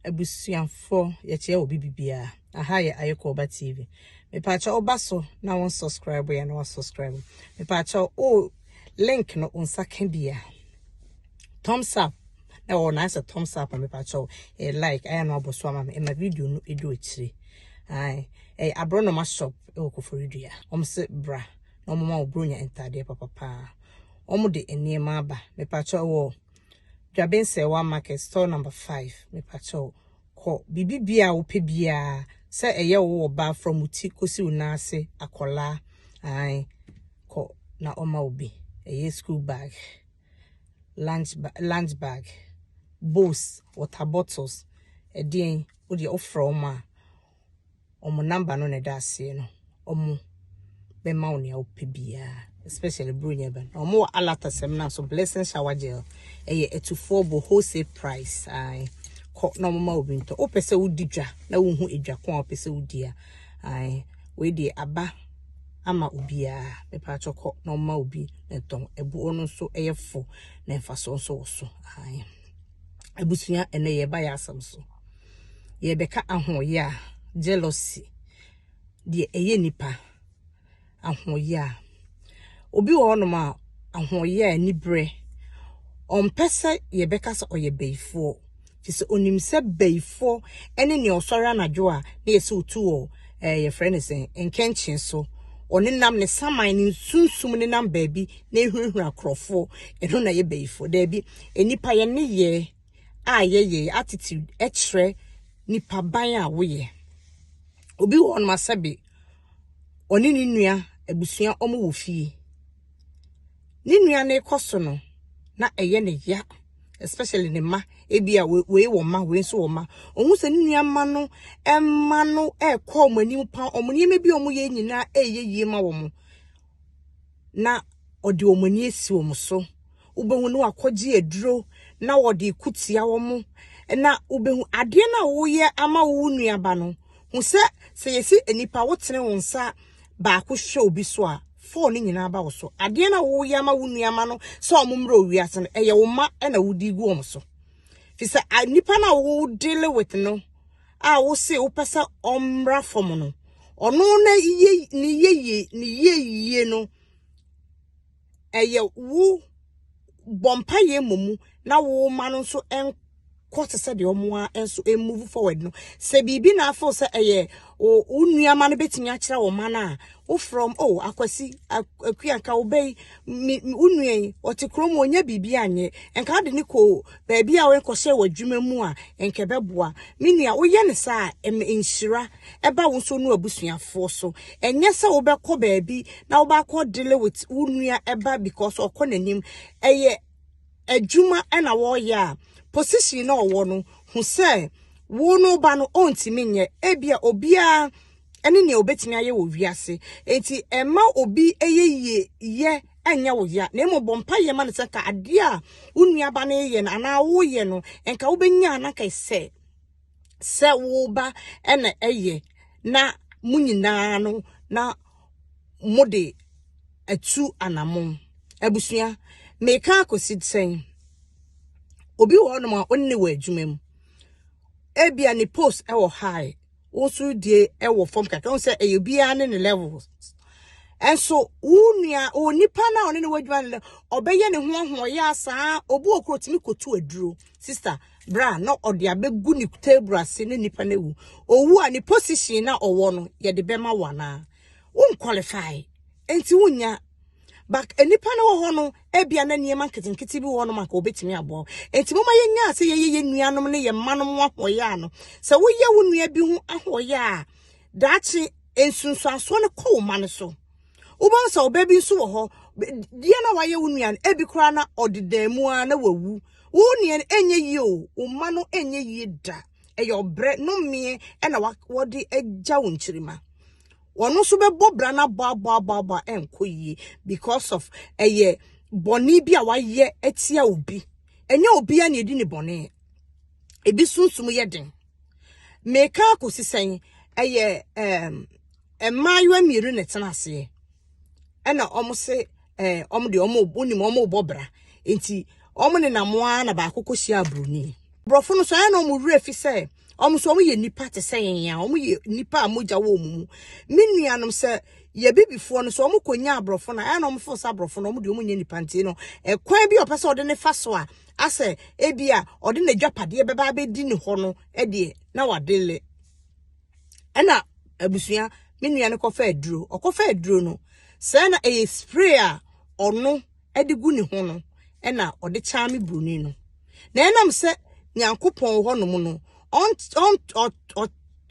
Abusuafo yɛkyerɛ obi bibia. Aha yɛ Ayekɔba TV. Mepaakyɛ ɔba so na wɔn subscribe yɛ na wɔsubscribe. Mepaakyɛ o link no nsa ka bia. Thumbs up na wɔn ayɛ sɛ thumbs up mepaakyɛ o eh, like ayɛ na abɔ so ama me ɛma video no edu akyire. Ayi ɛyɛ eh, abrɔnoma shop ɛwɔ Koforidua. Wɔn se bra na wɔn ma wɔbronya ntaadeɛ papapaa. Wɔn de nneɛma aba mepaakyɛ wɔ Dwabensɛewa market store number five mepakyɛw kɔ biribi biaa a wopɛ biaa sɛ ɛyɛ wo wɔ baa from wo ti kɔsi wo nan ase akɔlaa ae kɔ na ɔma wo bi ɛyɛ school bag lunch lunch bag bowls water bottles ɛdeɛn wodeɛ wofrɛ ɔmo a wɔn number no na ɛda aseɛ no wɔn bɛma wo nea wopɛ biara especially buronya bɛn na wɔn wɔ alata sɛm na so blessing shower gel ɛyɛ atufoɔ bɔ wholesale price ae kɔ na wɔn ma obi ntɔ wopɛ sɛ wodi dwa na wohu edwa ko a wopɛ sɛ wodi a ae wei deɛ aba ama obiara mepa atɔ kɔ na wɔn ma obi na ɛtɔn ɛboɔ no nso ɛyɛ fo na mfasoɔ nso wɔ so ae abusua ɛnɛ yɛ ba yɛ asɛm so. yɛrebɛka ahoɔyɛ a, jealousy, deɛ ɛyɛ nipa ahoɔyɛ a. Obi wɔ hɔnom a, ahoɔyɛ a aniberɛ, ɔmpɛ sɛ yɛbɛka sɛ ɔyɛ bayifoɔ. Te sɛ onim sɛ bayifoɔ ne nea ɔsɔre anadwo a na yɛsɛ otu wɔ ɛɛ yɛfrɛ no sɛn nkɛnkyen so. Ɔne nam ne saman ne sunsum ne nam baabi na ehurahura korɔfoɔ. Ɛno na ɛyɛ bayifoɔ. Daabi, nnipa yɛn ne yɛ a yɛyɛ, yɛ attitude kyerɛ nipa ban a woyɛ. Obi wɔ hɔnom a sɛbe ɔne ne nua abusua wɔn wɔ fie. Ne nua no rekɔ so no, na ɛyɛ ne ya, especially ne mma. Ebi a wei wɔ mma, wei nso wɔ mma. Ohun sɛ ne nua mma no, mma no rekɔ wɔn anim paa. Wɔn nneɛma bi a wɔyɛ nyinaa ɛyɛ yie ma wɔn. na ɔde wɔn ani asi wɔn so. Wobɛhu no wakɔgye aduro na wɔde ko tia wɔn. Na wobɛhu adeɛ no a woyɛ ama wo nuaba no, hu sɛ sɛ yɛsi nnipa wotene wo nsa baako hwɛ obi so a, fɔɔ no nyinaa ba wo so. Adeɛ no a woyɛ ama wo nuama no sɛ wɔn mmerɛ owiase no, ɛyɛ wo ma na wodi gu wɔn so. Fi sɛ nnipa no a wodele with no, a wose wopɛ sɛ ɔmmra fam no ɔno na yie ne yie ne yie yie no ɛyɛ wo bɔ mpaeɛ mmɔ mu na wo ma no nso nkɔ te sɛ deɛ ɔmo a nso move forward no sɛ biribi na afo sɛ ɛyɛ wo nnuama no betumi akyerɛ wɔn ma no a wo from o oh, akwasi akuanka wobɛyi wo nua yi ɔte kurom ɔnya biribi anyɛ nka de ne kɔ baabi a worekɔhyɛ wɔ adwuma mu a anka ɛbɛboa. Me nua, woyɛ no saa a, ɛma nhyira ba wo nso ne w'abusuafoɔ so. Ɛnyɛ sɛ wobɛkɔ baabi na wobɛakɔ deal with wo nua ba because ɔkɔ n'anim. Ɛyɛ adwuma na wɔreyɛ a, position na ɔwɔ no, hu sɛ wo no ba no ɔntumi nyɛ. Ebia obiara ne nea obetumi ayɛ wɔ wiase. Enti ɛma obi yɛ yie yɛ. ɛnyɛ wo ya, na mmom bɔ mpaeɛ ma no sɛ nka adeɛ a wo nuaba no reyɛ no anaa woyɛ no nka wobɛnya na nka sɛ sɛ wo ba na ɛyɛ na mo nyinaa no na mode atu anamon abusua meka akɔsi sɛn obi wɔ hɔnom a ɔnne wɔ adwuma mu ebia ne post ɛwɔ high wo nso die wɔ fam kakra wo sɛ ɛyɛ biara ne ne levels ɛnso wo nua o nipa na ɔne ne wadwuma no ɔbɛyɛ ne ho ahoɔyɛ asaa obi wɔ koro tumi kotu aduro sister bra na ɔde abɛgu ne table ase ne nipa no awu owu a ne position na ɔwɔ no yɛde bɛma wo anaa Wo nkwalifai, enti wonnya. But nnipa no wɔ hɔ no, ebia na nneɛma nketenkete bi wɔ hɔ nom anka obetumi aboa wo. Enti momma yɛnyaa sɛ yɛyɛ yɛn nuanom ne yɛn mmanom ho ahoɔyɛ ano. Sɛ woyɛ wo nua bi ho ahoɔyɛ a, daakye nsunsuansoɔ no kɔ wo mma no so. Wobɛhu sɛ ɔbaa bi nso wɔ hɔ, deɛ na wayɛ wo nua no, ebi koraa na ɔde dan mu ara na wawu. Wo nua no ɛnyɛ yie o, wo mma no ɛnyɛ yie da. ɛyɛ ɔbrɛ nomeɛ ɛna wɔde agya wo nkyirima wɔn nso bɛbɔ bra no aboaboaboaboa ɛnkɔ yie because of ɛyɛ bɔne bi a wayɛ atia obi ɛnyɛ obi a na ɛdi ne bɔne ebi sunsum yɛ den meka akɔsi sɛn ɛyɛ ɛm mmaayewa mmienu na ɛtena aseɛ ɛna wɔn se ɛɛ wɔn deɛ wɔn wɔn nim wɔn rebɔ bra nti wɔn nenam ara na baako kɔ hyia aburoni borɔfo no so ɛna wɔn werɛ fi sɛ wɔn so wɔn yɛ nipa te sɛ yɛn a wɔn yɛ nipa a mogya wɔ wɔn mu me nuanom sɛ yɛ bibifoɔ no so wɔn kɔ nya aborɔfo na ɛna wɔn fo sɛ aborɔfo no wɔn deɛ wɔn nyɛ nipa nti no ɛkwan bi a ɔpɛ sɛ ɔde ne fa so a asɛ ebi a ɔde n'adwapadeɛ bɛba abɛdi ne hɔ no ɛdeɛ na wade le. ɛna abusua me nua no kɔfa aduro ɔkɔfa aduro no sɛ na ɛyɛ spray a ɔno de gu ne ho no ɛna ɔde kyaa me buroni no na ɛnam sɛ nyankopɔn wɔ hɔnom no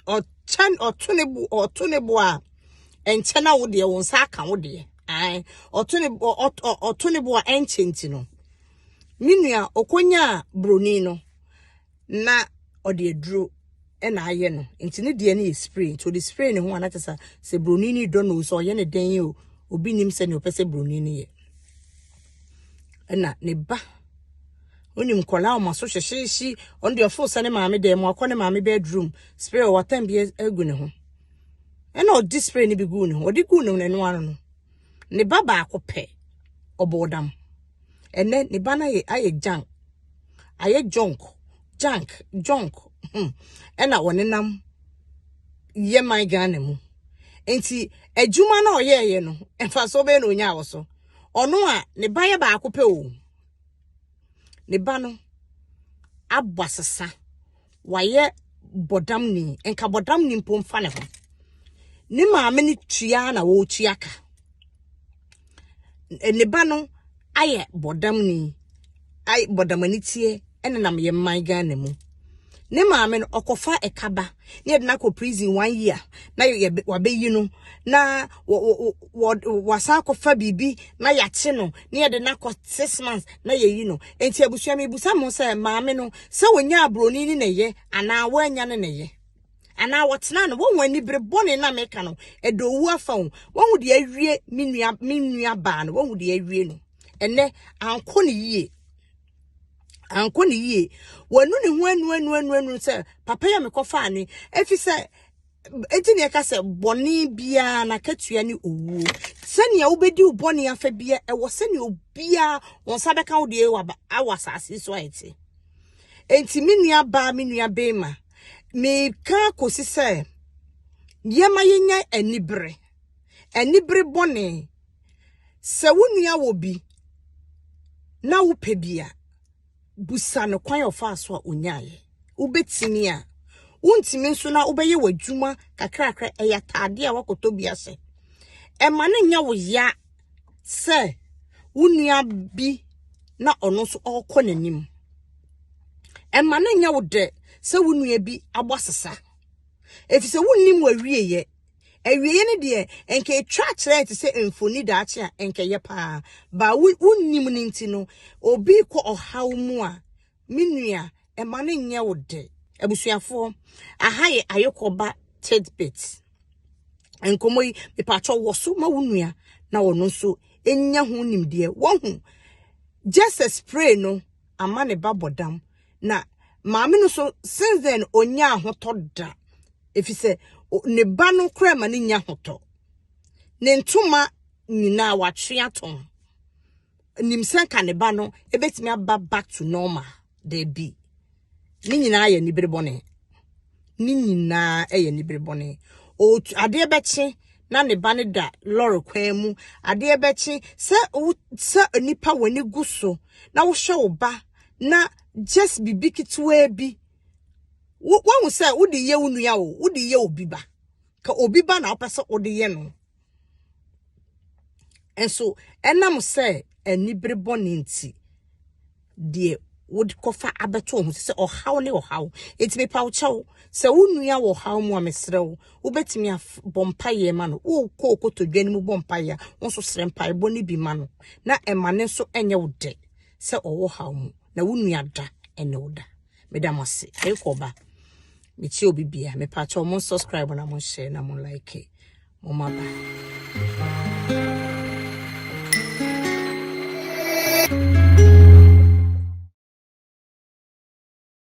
ɔkyɛn ɔto ne bo ɔto ne bo a ɛnkyɛ na wo deɛ wo nsa aka wo deɛ ae ɔto ne bo ɔto ne bo a ɛnkyɛ nti no me nua ɔkɔnyaa buroni no na ɔde aduro na ayɛ no nti ne deɛ no yɛ spray nti ɔde spray ne ho a na kyɛ sɛ sɛ buroni no dɔ no o sɛ ɔyɛ ne dɛn yi o obi nim sɛ nea ɔpɛ sɛ buroni no yɛ ɛna ne ba onim nkɔla ɔmo aso hyehyeehye ɔno deɛ ɔfo sɛ ne maame dɛm akɔ ne maame bedroom spray ɔwɔ atam bi agu ne ho ɛna ɔde spray no bi gu ne ho ɔde gu ne ho na ɛno ano no. Ne ba baako pɛ, ɔbɔɔ dam. Ɛnɛ ne ba no ayɛ ayɛ gyan, ayɛ junk, junk, junk. Hmm. Ɛna ɔnenam yɛ man Ghana mu. Nti adwuma no a ɔyɛɛyɛ no, mfasoɔ bɛyɛ na ɔnyaa wɔ so. Ɔno a ne ba yɛ baako pɛ o. Ne ba no abɔ asesa. wayɛ bɔdamni nka bɔdamni mpo mfa ne ho ne maame no tua na wɔretua ka ne ba no ayɛ bɔdamni ayɛ bɔdamani tie ɛnenam yɛn man ghana mu ne maame no ɔkɔfa ɛkaba ne yɛde no akɔ prison one year na yɛ wabɛyi no na wɔasan akɔfa biribi na yɛakye no na yɛde no akɔ six months na yɛyi no nti abusua mebusa mo sɛ maame no sɛ wɔnya aburoni ne na ɛyɛ anaa wɔanya ne na ɛyɛ anaa wɔtena no wɔn ani bere bɔne na meka no ɛdɔ owu afa ho wɔn deɛ awie me nua me nua baa no wɔn deɛ awie no ɛnɛ ankɔ ne yie ankɔ ne yie wɔnu ne ho anu anu anu anu sɛ papa yɛ mekɔfa ne efi sɛ Enti na yɛka sɛ bɔne biara n'akatua ne owuo. Sɛnea wobɛdi wo bɔne afa bia ɛwɔ sɛnea obiara wɔn nsa bɛka wo deɛ wɔ asase so a ɛte. Enti me nua baa me nua bɛrima meka kɔsi sɛ yɛma yɛnya anibere anibere bɔne sɛ wo nua wɔ bi na wopɛ bi a Bisa no kwan a ɔfaa so a ɔnyaeɛ. Wobɛtumi a. Wontumi nso na wobɛyɛ w'adwuma kakrakra, ɛyɛ ataadeɛ a woakɔtɔ bi ahyɛ. Ɛma no nyɛ wo ya sɛ wo nua bi na ɔno nso ɔrekɔ n'anim. Ɛma no nyɛ wo dɛ sɛ wo nua bi abɔ asesa. Ɛfiri sɛ wonnim w'awieeɛ. Awieeɛ no deɛ, nka ɛtwa kyerɛɛ te sɛ mfoni daakye a nka ɛyɛ paa. Ba wo wonnim no nti no, obi kɔ ɔhaw mu a, me nua, ɛma no nyɛ wo dɛ. Abusuafoɔ, aha yɛ Ayokɔba Tidbit. Nkɔmmɔ yi, mepatwɔ wɔ so ma wo nua na ɔno nso ɛnya ho nimdeɛ. Wahu, Jesus pray no ama ne ba bɔdam. Na maame no so, since then ɔnnya ahotɔ da. Ɛfiri sɛ, ne ba no koraa ma no nya ahotɔ. Ne ntoma nyinaa watwe atɔn. Nim sɛ nka ne ba no ɛbɛtumi aba back to normal. Daabi. Ne nyinaa yɛ anibere bɔne. ne nyinaa yɛ anibere bɔne. Ɔretu adeɛ bɛkye na ne ba no da lɔre kwan mu. Adeɛ bɛkye sɛ wo sɛ nipa w'ani gu so na wohyɛ wo ba na just biribi ketewaa bi wo wahu sɛ wode yɛ wo nua o wode yɛ obi ba ka obi ba na wopɛ sɛ wode yɛ no. Nso ɛnam sɛ anibere bɔne nti, deɛ wokɔfa abɛto wɔn so sɛ ɔhaw ne ɔhaw. Enti mepa wo kyɛw, sɛ wo nua wɔ ɔhaw mu a mesrɛ wo, wobɛtumi abɔ mpaeɛ ma no. Wokɔ kotodwe no mu bɔ mpaeɛ a, wo nso srɛ mpaebɔ no bi ma no. Na ɛma ne nso ɛnyɛ wo dɛ sɛ ɔwɔ haw mu, na wo nua da ɛne wo da. meda mo ase ayɛ kɔ ba metie obi bia me pa mo subscribe na mo share na mo like mo ma ba